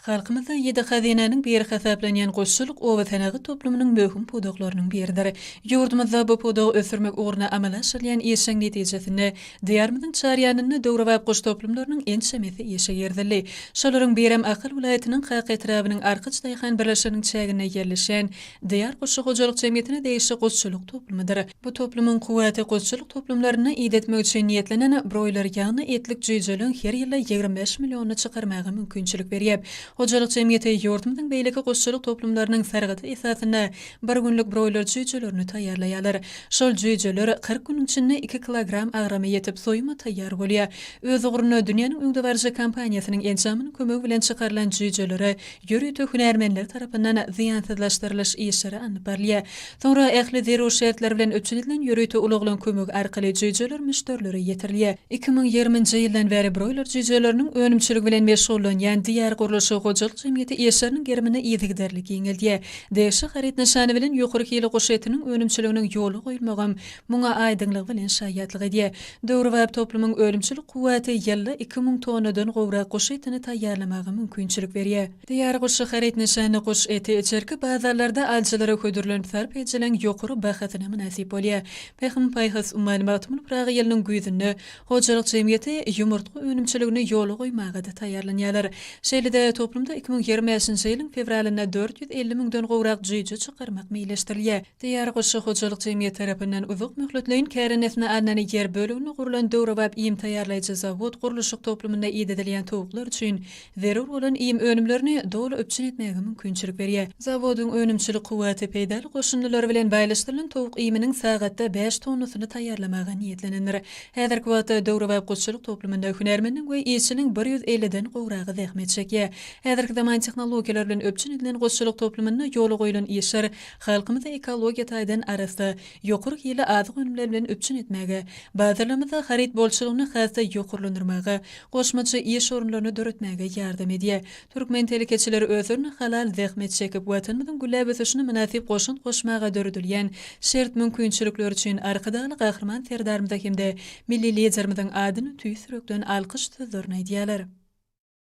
Halkymyzda ýedi hazynanyň biri hasaplanýan guşçulyk oba senagat toplumynyň möhüm pudaklarynyň biridir. Ýurdumyzda bu pudagy ösdürmek ugrunda amala aşyrylýan işiň netijesinde, Diýarymyzyň çar ýanynda döwrebap guş toplumlarynyň ençemesi işe girizildi. Şolaryň birem Ahal welaýatynyň Kaka etrabynyň Arkaç daýhan birleşiginiň çäginde ýerleşen Diýar guşçy hojalyk jemgyýetine degişli guşçulyk toplumydyr. Bu toplumyň kuwwaty gulçulyk toplumlaryna idetmek üçin niýetlenen broýler ýagny etlik jüýjeligiň her ýylda ýigrimi bäş millionyny çykarmaga mümkinçilik berýär. Hojalyk jemgyýeti ýurdumyzyň beýleki gulçulyk toplumlarynyň sargydy esasynda bir günlük broýler jüýjelerini taýýarlaýarlar. Şol jüýjeler kyrk günüň içinde iki kilogram agrama ýetip, soýuma taýýar bolýar. Öz ugruna dünýäniň öňdebaryjy kompaniýasynyň enjamynyň kömegi bilen çykarylan jüýjelere ýörite hünärmenler tarapyndan zyýansyzlaşdyrylyş işleri alnyp barylýar. Soňra ähli zerur şertler bilen üpjün edilen ýörite ulaglaryň kömegi arkaly jüýjeler müşderilere ýetirilýär. Iki müň ýigriminji ýyldan bäri broýler jüýjeleriniň önümçiligi bilen meşgullanýan Diýar gurluşyk hojalyk jemgyýeti işleriniň gerimini yzygiderli giňeldýär. Degişli haryt nyşany bilen ýokary hili guş etiniň önümçiliginiň ýola goýulmagam Muňa aýdyňlygy bilen şaýatlyk edýär. Döwrebap toplumyň önümçilik kuwwaty ýylda iki müň tonnadan gowrak guş etini taýýarlamaga mümkinçilik berýär. Taýýar guş haryt nyşany guş eti içerki bazarlarda alyjylara hödürlenip sarp edijileriň ýokary bahasyna mynasyp bolýar. Pähim-paýhas, Maglumatymyň Pyragy ýylynyň güýzünde hojalyk jemgyýeti ýumurtga önümçiligini ýola goýmaga-da taýýarlanýarlar. Şeýle-de, toplumda iki müň ýigrimi bäşinji ýylyň fewralynda dört ýüz elli müňden gowrak jüýje çykarmak meýilleşdirilýär. Diýar goşa hojalyk jemgyýeti tarapyndan uzak möhletleýin kärendesine alnan ýer böleginde gurlan döwrebap iým taýýarlaýjy zawod gurluşyk toplumynda idedilýän towuklar üçin zerur bolan iým önümlerini doly üpjün etmäge mümkinçilik berýär. Zawodyň önümçilik kuwwaty peýdaly goşundylar bilen baýlaşdyrylan towuk iýminiň sagatda bäş tonnasyny taýýarlamaga niýetlenendir. Häzirki wagtda döwrebap goşçulyk toplumynda hünärmendiň we işçiniň bir ýüz elliden gowragy zähmet çekýär. Häzirki zaman tehnologiýalar bilen üpjün edilen goşçulyk toplumynda ýola goýlan işler Halkymyzy ekologiýa taýdan arassa, ýokary hilli azyk önümleri bilen üpjün etmäge, bazarlarymyzda haryt bolçulygyny has-da ýokarlandyrmaga, goşmaça iş orunlaryny döretmäge ýardam edýär. Türkmen telekeçileri özlerine halal zähmet çekip, Watanymyzyň gülläp ösüşine mynasyp goşant goşmaga döredilýän şert-mümkinçilikler üçin Arkadagly Gahryman Serdarymyza hem-de Milli Liderimiziň adyna tüýs ýürekden alkyş sözlerini aýdýarlar.